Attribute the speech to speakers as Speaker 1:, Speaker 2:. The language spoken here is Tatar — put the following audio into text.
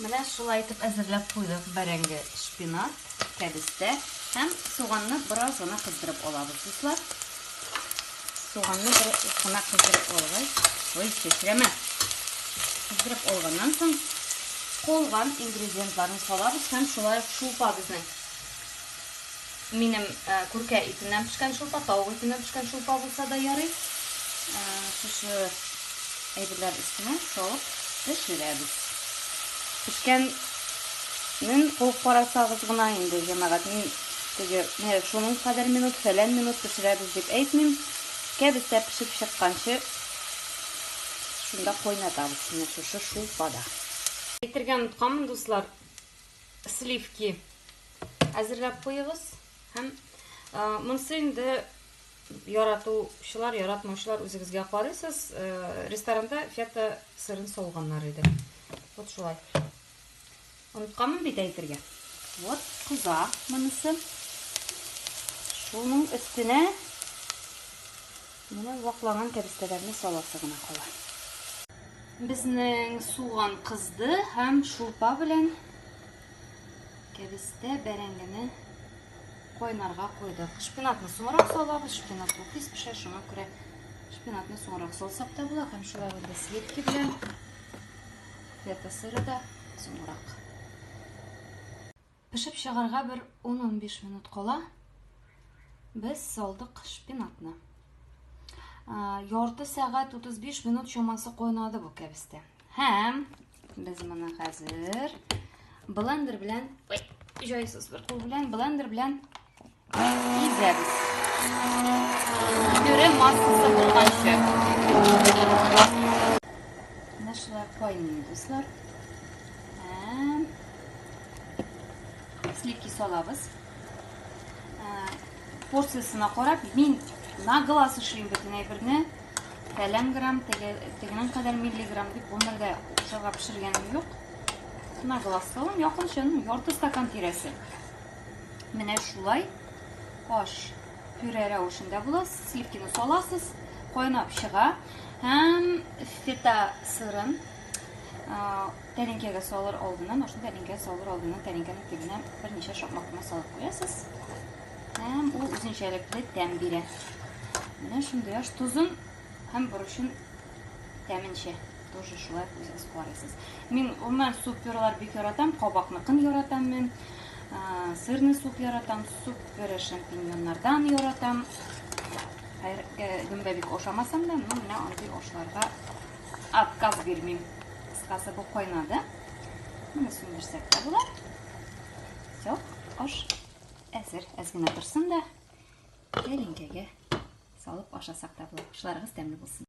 Speaker 1: Менә шулай итеп әзерләп куйдык бәрәңге, шпинат, кәбестә һәм суганны бераз гына кыздырып алабыз, дуслар. Суганны бераз гына кыздырып алгач, ой, чәчрәмә. Кыздырып алганнан соң калган ингредиентларны салабыз һәм шулай шулпа безнең. Минем күркә итеннән пешкән шулпа, тавык итеннән пешкән шулпа булса да ярый. Шушы әйберләр өстенә салып пешерәбез. Пешкәнен куып карасагыз гына инде, җәмәгать, мин теге менә шуның кадәр минут, фәлән минут пешерәбез дип әйтмим. Кәбестә пешеп чыкканчы шунда кайнатабыз, менә шушы шулпада. Әйтергә онытканмын, дуслар. сливки әзерләп куегыз һәм монсы инде яратучылар яратмаучылар үзегезгә карыйсыз ресторанда фета сырын салганнар иде вот шулай онытканмын бит әйтергә вот кыза монысы шуның өстенә Менә вакланган кәбестәләрне саласы гына кала. Безнең суган кызды һәм шулпа белән кәбестә бәрәңгене кайнарга куйдык. Шпинатны соңрак салабыз, шпинат бу тиз пешә, шуңа күрә шпинатны соңрак салсак та була, һәм шулай инде сливки белән фета сыры да соңрак. Пешеп чыгарга бер ун-унбиш минут кала, без салдык шпинатны. Ярты сәгать 35 минут чамасы кайнады бу кәбестә. Һәм без моны хәзер блендер белән, ой, җайсыз бер кул белән, блендер белән Изәбез. Пюре массасы булганчы. Менә шулай кайный, дуслар. Һәм сливки салабыз. Порциясенә карап, мин на глаз эшлим бөтен әйберне. Фәлән грамм, тегенең кадәр миллиграмм дип гомердә укшарга пешергәнем юк. На глаз салам, якынча, ну, ярты стакан тирәсе. Менә шулай аш пюре рәвешендә була. Сливкины саласыз, кайнап чыга һәм фета сырын тәлинкәгә салыр алдыннан, ашны тәлинкәгә салыр алдыннан тәлинкәнең төбенә берничә шакмак кына салып куясыз. Һәм ул үзенчәлекле тәм бирә. Менә шундый аш тузын Һәм борычын тәменчә тоже шулай үзегез карыйсыз. Мин гомумән суперлар бик яратам, кабакныкын яратам мин. Сырны суп яратам, супер шампиньоннардан яратам. Хәергә гөмбә бик ошамасам да, ну менә андый ошларга отказ бирмим. Кыскасы бу кайнады. Менә сүндерсәк тә була. Все, аш әзер. Әз генә торсын да, тәлинкәгә Салып ашасак та була. Ашларыгыз тәмле булсын.